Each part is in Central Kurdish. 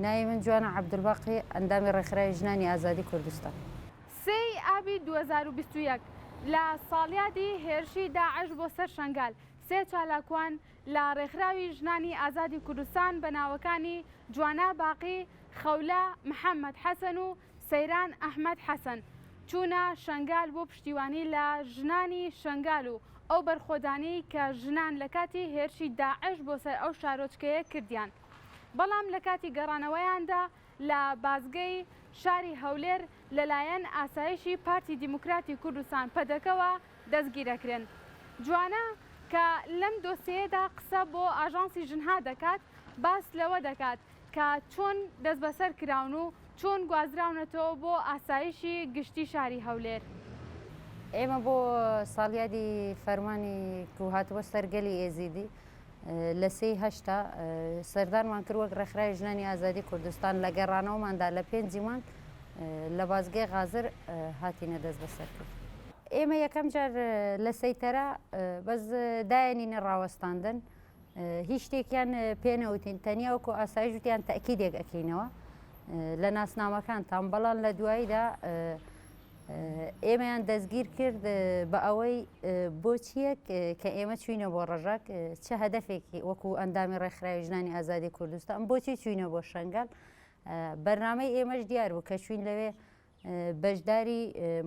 ناوی من جوانە عەبدولباقی، ئەندامی ڕێکخراوی ژنانی ئازادی کوردستان. سێی ئابی دوو هەزار و بیست و یەک، لە ساڵیادی هێرشی داعش بۆ سەر شەنگال، سێ چالاکوان لە ڕێکخراوی ژنانی ئازادی کوردستان بە ناوەکانی جوانا باقی، خەولە محەممەد حەسەن و سەیران ئەحمەد حەسەن، چوونە شەنگال بۆ پشتیوانی لە ژنانی شەنگال و ئەو بەرخۆدانەی کە ژنان لە کاتی هێرشی داعش بۆ سەر ئەو شارۆچکەیە کردیان بەڵام لە کاتی گەڕانەوەیاندا لە بازگەی شاری هەولێر لەلایەن ئاسایشی پارتی دیموکراتی کوردستان پەدەکەوە دەستگیرەکرێن جوانە کە لەم دۆسێیەدا قسە بۆ ئاژانسی ژنها دەکات باس لەوە دەکات کە چۆن دەستبەسەر کراون و چۆن گوازراونەتەوە بۆ ئاسایشی گشتی شاری هەولێر. ئێمە بۆ ساڵیادی فەرمانی کو هاتبوە سەر گەلی ئێزیدی لە سێی هەشتا سەردانمان کرد وەک ڕێکخراوی ژنانی ئازادی کوردستان لە گەڕانەوەماندا لە پێنجی مانگ لە بازگەی غازر هاتینە دەستبەسەر کرد. ئێمە یەکەم جار لە سەیتەرە بەس داێنینە ڕاوەستاندن. هیچ شتێکیان پێ نەوتین تەنیا وەکو ئاسایش وتیان تەکیدێک ئەکەینەوە لە ناسنامەکانتان بەڵام لە دواییدا ئێمەیان دەستگیر کرد بە ئەوەی بۆچیەک کە ئێمە چوینە بۆ ڕژاک چه هەدفێکی وەکو ئەندامی ڕێکخراوی ژنانی ئازادی کوردستان بۆچی چوینە بۆ شنگال بەرنمەی ئێمەش دیار بوو کە چوین لەوێ بەشداری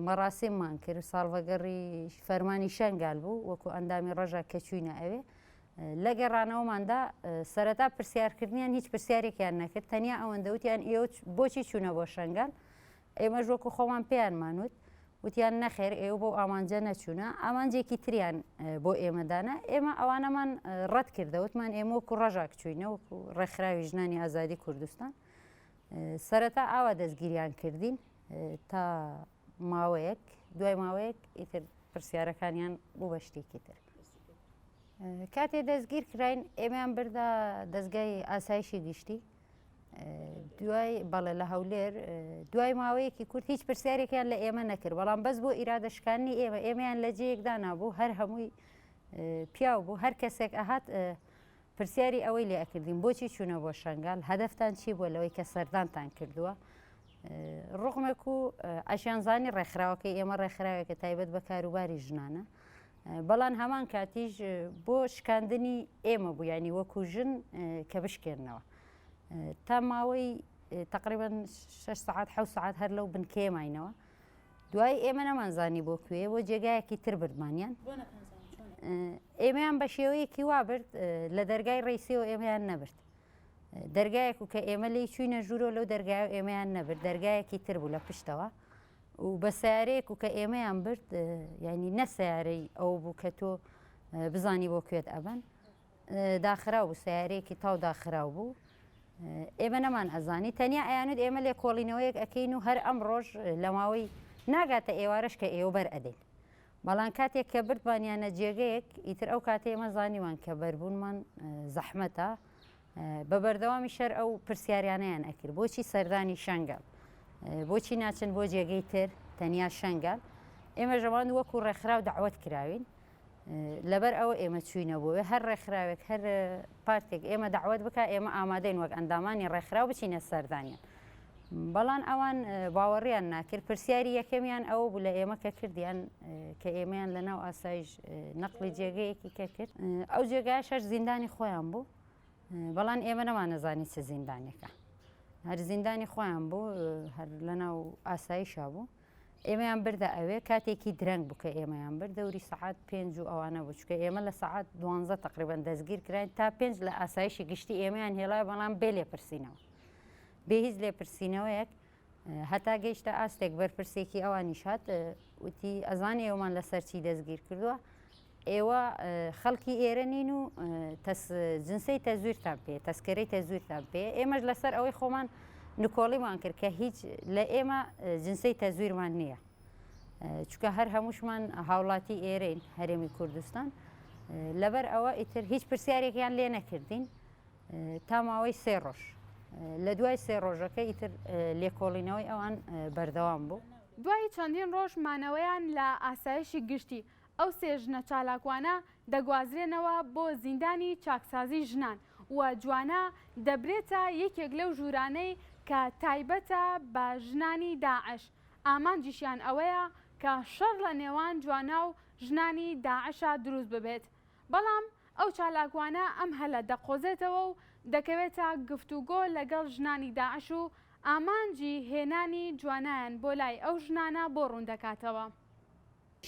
مەراسیممان کرد، ساڵڤەگەڕی فەرمانی شەنگال بوو، وەکو ئەندامی ڕەژا کە چووینە ئەوێ، لە گەڕانەوەماندا سەرەتا پرسیارکردنیان هیچ پرسیارێکیان نەکرد، تەنیا ئەوەندە وتیان ئێوە بۆچی چوونە بۆ شەنگال؟ ئێمەش وەکو خۆمان پێیانمان وت، وتیان نەخێر ئێوە بەو ئامانجە نەچوونە، ئامانجێکی تریان بۆ ئێمە دانا، ئێمە ئەوانەمان ڕەتکردەوە، وتمان ئێمە وەکو ڕەژاک چووینە، وەکو ڕێکخراوی ژنانی ئازادی کوردستان، سەرەتا ئاوا دەستگیریان کردین تا ماوەیەک دوای ماوەیەک ئیتر پرسیارەکانیان بوو بە شتێکی تر کاتێ دەستگیر کراین ئێمەیان بردا دەستگای ئاسایشی گشتی دوای بەڵێ لە هەولێر دوای ماوەیەکی کورت هیچ پرسیارێکیان لە ئێمە نەکرد بەڵام بەس بۆ ئیرادەشکانی ئێمە ئێمەیان لە جەیەکدا نابوو هەر هەمووی پیاو بوو هەر کەسێک ئەهات پرسیاری ئەوەی لێ ئەکردین بۆچی چوونە بۆ شنگال هەدەفتان چی بووە لەوەی کە سەردانتان کردووە ڕقمێک و ئەشیان زانی ڕێکخراوەکەی ئێمە ڕێکخراوێکە تایبەت بە کاروباری ژنانە بەڵام هەمان کاتیش بۆ شکاندنی ئێمە بوو ینی وەکو ژن کە بشکێنەوە تا ماوەی تقریبان 6 ساعت ح ساعت هەر لەو بنکێماینەوە دوایی ئێمە نەمانزانی بۆ کوێ بۆ جێگایەکی تر بردمانیان ئێمەیان بە شێوەیەکی وا برد لە دەرگای ڕیسیەوە ئێمەیان نەبرد دەرگایەک و کە ئێمە لی چوینە ژوورۆ لەو دەرگای و ئێمەیان نەبرد دەرگایەکی تر بوو لە پشتەوە و بە سیارەیەک و کە ئێمەیان برد ینی نە سیارەی ئەو بوو کە تۆ بزانی بۆ کوێت ئەبن داخراو بوو سەیارەیەکی تاو داخراو بوو ئێمە نەمان ئەزانی تەنیا ئەیانوت ئێمە لێکۆڵینەوەیەک ئەکەین و هەر ئەم ڕۆژ لە ماوەی ناگاتە ئێوارەش کە ئێوە بەر ئەدەین بەڵام کاتێک کە بردبانیانە جێگەیەک ئیتر ئەو کاتێ ئێمە زانیوان کە بەربوونمان زەحمەتە بە بەردەوامی شەر ئەو پرسیاریانیان ئەکرد بۆچی سەردانی شەنگەڵ بۆچی ناچن بۆ جێگەی تر تەنیا شەنگەڵ ئێمە ژەوان وەکو ڕێکخراو داوت کراوین لەبەر ئەوە ئێمە چووینە بۆ وێ، هەر ڕێکخراوێک، هەر پارتێک ئێمە دەعوەت بکا، ئێمە ئامادەین وەک ئەندامانی ڕێکخراو بچینە سەردانیان. بەڵام ئەوان باوەڕیان ناکرد، پرسیاری یەکەمیان ئەوە بوو لە ئێمە کە کردیان کە ئێمەیان لە ناو ئاسایش نەقڵی جێگەیەکی کە کرد، ئەو جێگایە شەش زیندانی خۆیان بوو، بەڵام ئێمە نەمانەزانی چ زیندانێکە، هەر زیندانی خۆیان بوو، هەر لە ناو ئاسایشا بوو. ئێمەیان بردە ئەوێ کاتێکی درەنگ بوو کە ئێمەیان برد دەوری سەعات پێنج و ئەوانە بوو چکە ئێمە لە سەعات دوانزە تقریبان دەستگیر کراین تا پێنج لە ئاسایشی گشتی ئێمەیان هێڵای بەڵام بێ لێپرسینەوە بێ هیچ لێپرسینەوەیەک هەتا گەیشتە ئاستێک بەرپرسێکی ئەوانیش هات وتی ئەزانی ئێوەمان لەسەر چی دەستگیر کردووە ئێوە خەڵکی ئێرە نین و تەس جنسەی تەزویرتان پێ تەسکەرەی تەزویرتان پێ ئێمەش لەسەر ئەوەی خۆمان نکۆڵیمان کرد کە هیچ لە ئێمە جنسەی تەزویرمان نییە چکە هەر هەمووشمان هاوڵاتی ئێرەین هەرێمی کوردستان لەبەر ئەوە ئیتر هیچ پرسیارێکیان لێ نەکردین تا ماوەی سێ ڕۆژ لە دوای سێ ڕۆژەکە ئیتر لێکۆڵینەوەی ئەوان بەردەوام بوو. دوای چەندین ڕۆژ مانەوەیان لە ئاسایشی گشتی، ئەو سێ ژنە چالاکوانە دەگوازرێنەوە بۆ زیندانی چاکسازی ژنان و جوانا دەبرێتە یەکێک لەو ژوورانەی کە تایبەتە بە ژنانی داعش، ئامانجیشیان ئەوەیە کە شەڕ لە نێوان جوانا و ژنانی داعشا دروست ببێت، بەڵام ئەو چالاکوانە ئەم هەلە دەقۆزێتەوە و دەکەوێتە گفتوگۆ لەگەڵ ژنانی داعش و ئامانجی هێنانی جوانایان بۆ لای ئەو ژنانە بۆ ڕوون دەکاتەوە.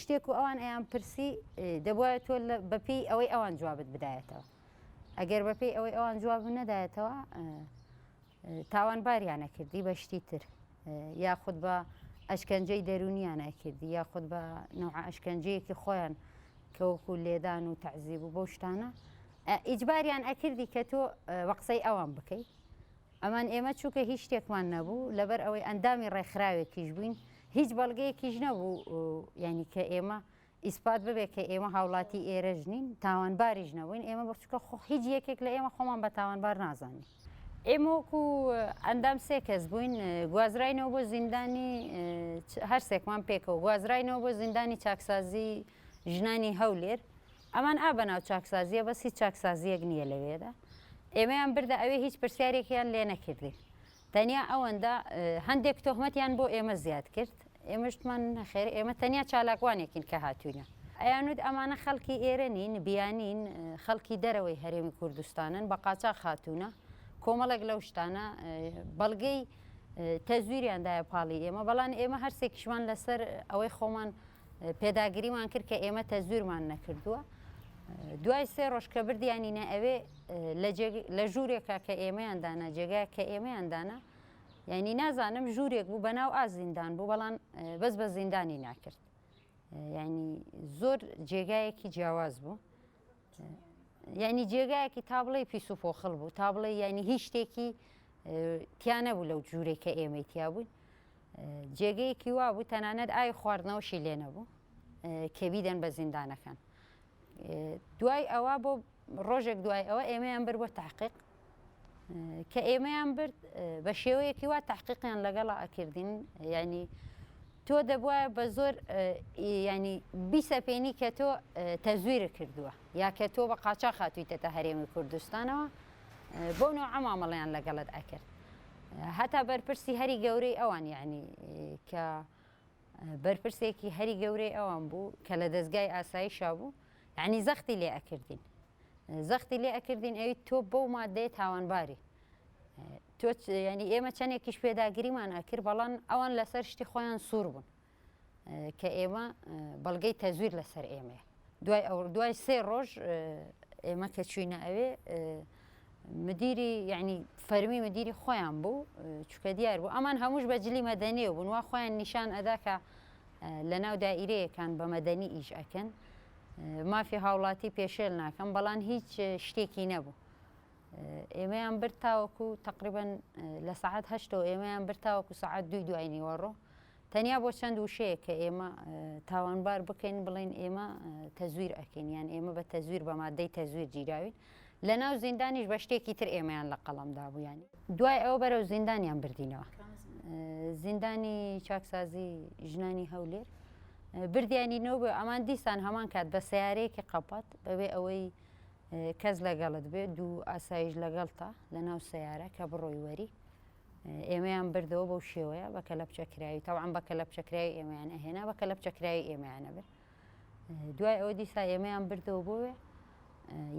شتێک و ئەوان ئەیان پرسی دەبوایە تۆ بە پێی ئەوەی ئەوان جوابت بدایەتەوە ئەگەر بە پێی ئەوەی ئەوان جواب نەدایەتەوە تاوان باریانە کردی بە شتی تر یاخود بە ئەشکەنجەی دەرونیانە کردی یاخود بە نەوع ئەشکەنجەیەکی خۆیان کەوەکو لێدان و تەعزیب و بۆ شتانە ئیجباریان ئەکردی کە تۆ وەقسەی ئەوان بکەیت ئەمان ئێمە چونکە هیچ شتێکمان نەبوو، لەبەر ئەوەی ئەندامی ڕێکخراوێکیش بووین، هیچ بەڵگەیەکیش نەبوو یانی کە ئێمە ئیسپات ببێت کە ئێمە هاوڵاتی ئێرەش نین، تاوانباریش نەبووین، ئێمە بە چونکە خۆ هیچ یەکێک لە ئێمە خۆمان بە تاوانبار نازانین. ئێمە وەکو ئەندام سێ کەس بووین، گوازراینەوە بۆ زیندانی، هەر سێکمان پێکەوە گوازراینەوە بۆ زیندانی چاکسازی، ژنانی هەولێر ئەمان ئا بەناو چاکسازیە بەس هیچ چاکسازیەک نیە لەوێدا ئێمەیان بردە ئەوێ هیچ پرسیارێکیان لێ نەکردین تەنیا ئەوەندە هەندێک تۆهمەتیان بۆ ئێمە زیاد کرد ئێمەش وتمان نەخێر ئێمە تەنیا چالاکوانێکین کە هاتوینە ئەیان وت ئەمانە خەڵکی ئێرە نین بیانین خەڵکی دەرەوەی هەرێمی کوردستانن بە قاچاخ هاتونە کۆمەڵێک لەو شتانە بەڵگەی تەزویریان دایە پاڵی ئێمە بەڵام ئێمە هەرسێکیشمان لەسەر ئەوەی خۆمان پێداگریمان کرد کە ئێمە تەزویرمان نەکردووە دوای سێ ڕۆژ کە بردیانینە ئەوێ لە ژوورێکە کە ئێمەیان دانا جێگا کە ئێمەیان دانا یعنی نازانم ژوورێک بوو بە ناو ئازیندان بوو بەڵام بەس بە زیندانی ناکرد یعنی زۆر جێگایەکی جیاواز بوو یعنی جێگایەکی تابڵی پیس و پۆخڵ بوو تابڵی یعنی هیچ شتێکی تیانە بوو لەو جوورێکە ئێمەی تیا بووین جێگەیەکی وا بوو تەنانەت ئاوی خواردنەوەشی لێ نەبوو کە بیدەن بە زیندانەکان. دوای ئەوە بۆ ڕۆژێک دوای ئەوە ئێمەیان برد بۆ تحقیق کە ئێمەیان برد بە شێوەیەکی وا تحقیقیان لەگەڵا ئەکردین ینی تۆ دەبواە بە زۆر ینی بیسەپێنی کە تۆ تەزویرە کردووە یا کە تۆ بە قاچا خاتویتە تا هەرێمی کوردستانەوە بۆ نەوە ئەمامەڵیان لەگەڵت ئەکرد هەتا بەرپرسی هەری گەورەی ئەوان یەعنی کە بەرپرسێکی هەری گەورەی ئەوان بوو کە لە دەستگای ئاسایشا بوو یعنی زەختی لێ ئەکردین زەختی لێ ئەکردین ئەوی تۆ بەو مادەیە تاوانباری تۆ ینی ئێمە چەندێکیش پێداگریمان ئەکرد بەڵام ئەوان لەسەر شتی خۆیان سوور بوون کە ئێمە بەڵگەی تەزویر لەسەر ئێمەیە دوای ئەو دوای سێ ڕۆژ ئێمە کە چوینە ئەوێ مدیری یعنی فەرمی مدیری خۆیان بوو چکە دیار بوو ئەمان هەمووش بە جلی مەدەنێ و بنوا خۆیان نیشان ئەداکە لە ناو دائیرەیەکان بە مەدەنی ئیش ئەکەن مافی هاوڵاتی پێشێل ناکەم بەڵان هیچ شتێکی نەبوو ئێمەیان برتاوەکو تقریبن لە سعات هەشتەوە ئێمەیان برتاوەکو سعات دوی دوای نیوەڕۆ تەنیا بۆ چەند وشەیەک کە ئێمە تاوانبار بکەین بڵێین ئێمە تەزویر ئەکەین یان ئێمە بە تەزویر بە مادەی تەزویر گیراوین لە ناو زیندانیش بە شتێکی تر ئێمەیان لە قەڵەم دابوویان دوای ئەوە بەرەو زیندانیان بردینەوە زیندانی چاکسازی ژنانی هەولێر بردیانی نەوە بە ئەمان دیسان هەمان کات بە سیارەیەکی قەپات بەبێ ئەوەی کەس لەگەڵت بێ دوو ئاسایش لەگەڵتا لە ناو سیارە کە بڕۆی وەری ئێمەیان بردەوە بەو شێوەیە بە کەلەپچە کراوی تاوان بە کەلەپچە کراوی ئێمەیان ئەهێنا بە کەلەپچە کراوی ئێمەیانە برد دوای ئەوە دیسا ئێمەیان بردەوە بۆێ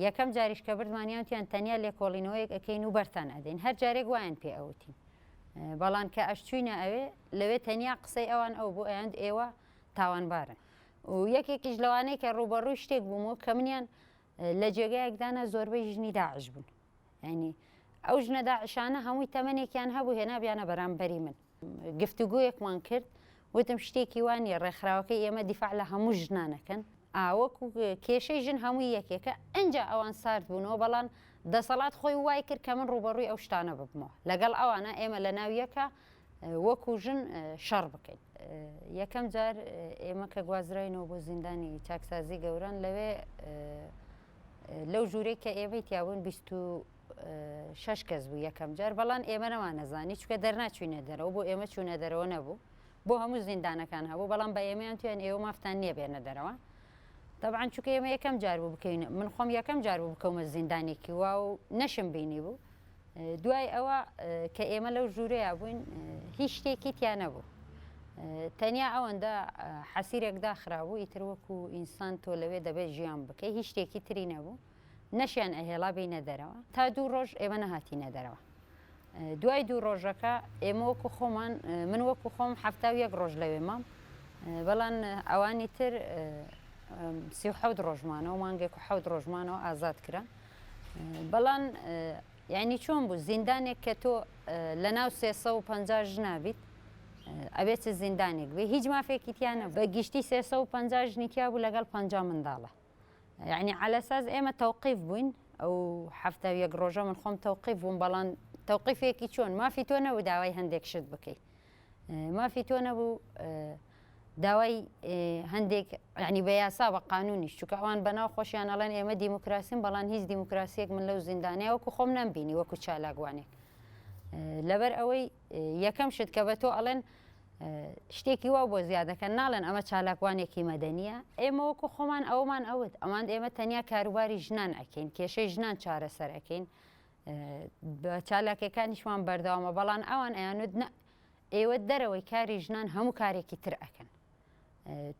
یەکەم جاریش کە بردمانیانتیان تەنیا لێکۆڵینەوەیەک ئەەکەین و بەرتان ئەدەین هەر جارێک وایان پێ ئەوتین بەڵان کە ئەشچوینە ئەوێ لەوێ تەنیا قسەی ئەوان ئەو بۆ ئەیاند ئێوە تاوانبارن و یەکێکیش لەوانەیە کە ڕوبەڕووی شتێک بوومەوە کە منیان لە جێگایەک دانا زۆربەی ژنی داعش بوون یعنی ئەو ژنە داعشانە هەمووی تەمەێکیان هەبوو هێنابیانە بەرامبەری من گفتوگویەکمان کرد وتم شتێکی وانی ڕێکخراوەکە ئێمە دیفاع لە هەموو ژنانەکەن ئاوەک و کێشەی ژن هەمووی یەکێکە ئەجا ئەوان سارد بوونەوە بەڵام دەسەڵات خۆی وای کرد کە من ڕوبەڕووی ئەو شتانە ببمەوە لەگەڵ ئەوانە ئێمە لە ناویەکە وەکو ژن شەڕ بکەین. یەکەم جار ئێمە کە گوازراینەوە بۆ زیندانی چاکسازی گەوران لەوێ لەو ژوورەی کە ئێمەی تیابوون بیست و شەش کەس بوو یەکەم جار بەڵام ئێمە نەمانەزانی چکە دەرناچوینە دەرەوە بۆ ئێمە چوونە دەرەوە نەبوو بۆ هەموو زیندانەکان هەبوو بەڵام بە ئێمەیان تویان ئێوە مافتان نییە بێنە دەرەوە طبعا چکە ئێمە یەکەم جار بوو بکەین من خۆم یەکەم جار بوو بکەومە زیندانێکی وا و نەشم بینی بوو دوای ئەوە کە ئێمە لەو ژوورەیا بووین هیچ شتێکی تیا نەبوو تەنیا ئەوەندە حەسیرێک داخرابوو ئیتر وەکو ئینسان تۆ لەوێ دەبێت ژیان بکەی هیچ شتێکی تری نەبوو نەشیان ئەهێڵا بینە دەرەوە تا دوو ڕۆژ ئێمە نەهاتینە دەرەوە دوای دوو ڕۆژەکە ئێمە وەکو خۆمان من وەکو خۆم هەفتا و یەک ڕۆژ لەوێ مام بەڵام ئەوانی تر سی و حەوت ڕۆژمانەوە مانگێک و حەوت ڕۆژمانەوە ئازاد کرا بەڵان یانی چۆن بوو زیندانێک کە تۆ لەناو سێ سەد و پەنجا ژنا بیت ئەبێ چ زیندانێک بێ هیچ مافێکی تیا نەبوو بە گشتی سێ سەد و پەنجا ژنی تیا بوو لەگەڵ پەنجا منداڵە یانی عەلی ئەساس ئێمە تەوقیف بووین ئەو حەفتا و یەک ڕۆژە من خۆم تەوقیف بووم بەڵان تەوقیفێکی چۆن مافی تۆ نەبوو داوای هەندێک شت بکەی مافی تۆ نەبوو داوای هەندێک یعنی بە یاسا بە قانونیش چونکە ئەوان بەناو خۆشیان ئەڵێن ئێمە دیموکراسیم بەڵان هیچ دیموکراسیەک من لەو زیندانەیە وەکو خۆم نەمبینی وەکو چالاکوانێک لەبەر ئەوەی یەکەم شت کە بە تۆ ئەڵێن شتێکی وا بۆ زیادەکەن ناڵێن ئەمە چالاکوانێکی مەدەنیە ئێمە وەکو خۆمان ئەومان ئەوت ئەمان ئێمە تەنیا کاروباری ژنان ئەکەین کێشەی ژنان چارەسەر ئەەکەین بە چالاکیەکانیشمان بەردەوامە بەڵان ئەوان ئەیانوت نە ئێوە دەرەوەی کاری ژنان هەموو کارێکی تر ئەکەن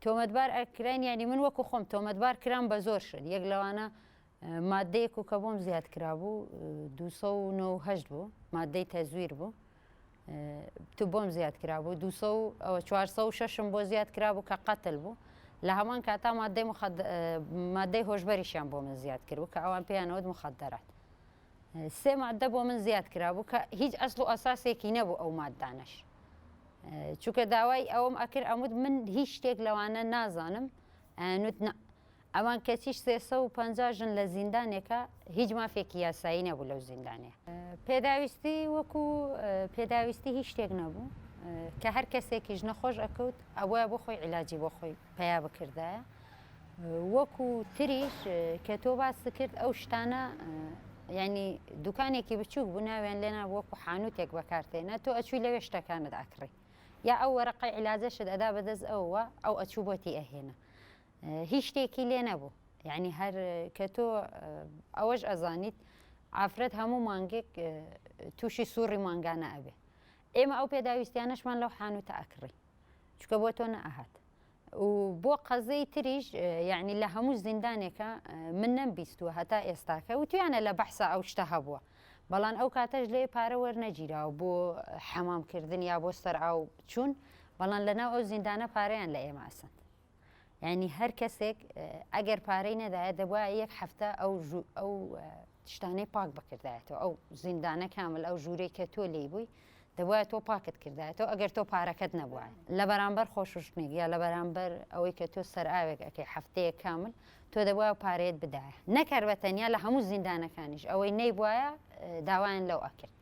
تۆمەتبار ئەکرین ینی من وەکو خۆم تۆمەتبار کران بە زۆر شت یەک لەوانە مادەیەک و کە بۆم زیاد کرابوو 290 بوو مادەی تەزویر بوو تو بۆم زیاد کرابوو دو سەو ئەوە چوار سەو شەشم بۆ زیاد کرابوو کە قەتل بوو لە هەمان کاتا مادەی مخد... مادەی هۆشبەریشیان بۆ من زیاد کرد و کە ئەوان پێیانەوەت مخدرات سێ مادە بۆ من زیاد کرابوو کە هیچ ئەسڵ و ئەساسێکی نەبوو ئەو مادانەش چونکە داوای ئەوم ئەکرد ئەموت من هیچ شتێک لەوانە نازانم ئەنوت نە ئەوان کەچی سێ سەد و پەنجا ژن لە زیندانێکە هیچ مافێکی یاسایی نەبوو لەو زیندانەیە. پێداویستی وەکو پێداویستی هیچ شتێک نەبوو کە هەر کەسێکیش نەخۆش ئەکەوت ئەبوایە بۆ خۆی عیلاجی بۆ خۆی پەیا بکردایە. وەکو تریش کە تۆ باست کرد ئەو شتانە یعنی دوکانێکی بچووک بوو ناویان لێنا وەکو حانوتێک بەکارتێنە تۆ ئەچووی لەوێ شتەکانت ئەکڕی یا ئەو وەرەقەی عیلاجەشت ئەدا بەدەست ئەوە ئەو ئەچوو بۆتی ئەهێنا. هیچ شتێکی لێ نەبوو یعنی هەر کە تۆ ئەوەش ئەزانیت ئافرەت هەموو مانگێک تووشی سوڕی مانگانە ئەبێ ئێمە ئەو پێداویستیانەشمان لەو حانوتە ئەکڕی چکە بۆ تۆ نەهات و بۆ قەزەی تریش یعنی لە هەموو زیندانێکە من نەم بیستووە هەتا ئێستاکە و تویانە لە بەحسا ئەو شتە هەبووە بەڵام ئەو کاتەش لێ پارە وەرنەگیراوە بۆ حەمامکردن یا بۆ سەر ئاو چوون بەڵام لەناو ئەو زیندانە پارەیان لە ئێمە ئەسند یانی هەر کەسێک ئەگەر پارەی نەدایە دەبواە یەک هەفتە ئەو ئەو شتانەی پاک بکردایەتەوە ئەو زیندانە کامل ئەو ژوورەی کە تۆ لی بووی دەبواە تۆ پاکت کردایەتەوە ئەگەر تۆ پارەکەت نەبووە لە بەرامبەر خۆششتنێک یا لە بەرامبەر ئەوەی کە تۆ سەر ئاوێک ئەەکەی هەفتەیە کامل تۆ دەبواە پارێت بدایە نەکەر بە تەنیا لە هەموو زیندانەکانیش ئەوەی نەیبواە داوایان لەو ئەکرد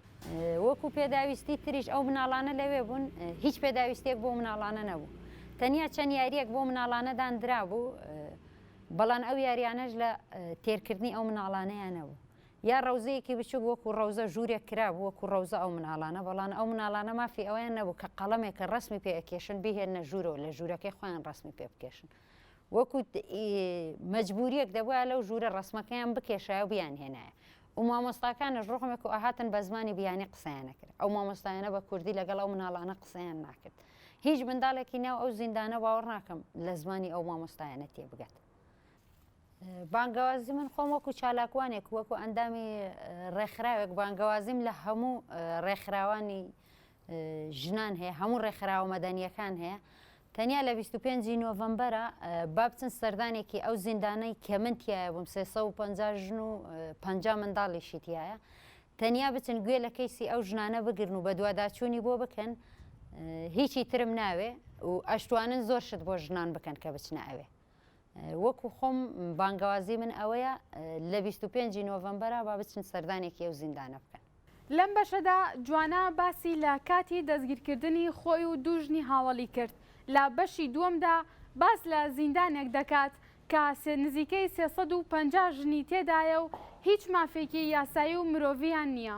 وەکو پێداویستی تریش ئەو مناڵانە لەوێ بوون هیچ پێداویستێک بۆ مناڵانە نەبوو تەنیا چەند یاریەک بۆ مناڵانەدان درابوو بەڵان ئەو یاریانەش لە تێرکردنی ئەو مناڵانەیە نەبوو یا ڕەوزەیەکی بچوک وەکو ڕەوزە ژوورێک کراب وەکو ڕەوزە ئەو مناڵانە بەڵان ئەو مناڵانە مافی ئەویان نەبوو کە قەڵەمێکە ڕسمی پێ ئەکێشن بهێنە ژوورەوە لە ژوورەکەی خۆیان ڕسمی پێ بکێشن وەکو مەجبوریەک دەبوایە لەو ژوورە ڕەسمەکەیان بکێشایە و بیانهێنایە و مامۆستاکانش ڕوحمێک و ئەهاتن بە زمانی بیانی قسەیان نەکرد ئەو مامۆستایانە بە کوردی لەگەڵ ئەو مناڵانە قسەیان ناکرد هیچ منداڵێکی ناو ئەو زیندانە باوەڕ ناکەم لە زمانی ئەو مامۆستایانە تێبگات بانگەوازی من خۆم وەکو چالاکوانێک وەکو ئەندامی ڕێکخراوێک بانگەوازیم لە هەموو ڕێکخراوانی ژنان هەیە هەموو ڕێکخراوە مەدەنیەکان هەیە تەنیا لە 25 ی نۆڤەمبەرە با بچن سەردانێکی ئەو زیندانەی کە من تایە بووم 350 ژن و 50 منداڵیشی تایە تەنیا بچن گوێ لە کەیسی ئەو ژنانە بگرن و بەدواداچوونی بۆ بکەن هیچی ترم ناوێ و ئەشتوانن زۆر شت بۆ ژنان بکەن کە بچنە ئەوێ وەکو خۆم بانگەوازی من ئەوەیە لە بیست و پێنجی نۆڤەمبەرا با بچن سەردانێکی ئەو زیندانە بکەن. لەم بەشەدا جوانا باسی لە کاتی دەستگیرکردنی خۆی و دوو ژنی هاوەڵی کرد، لە بەشی دووەمدا باس لە زیندانێک دەکات کە نزیکەی سێ سەد و پەنجا ژنی تێدایە و هیچ مافێکی یاسایی و مرۆڤییان نییە.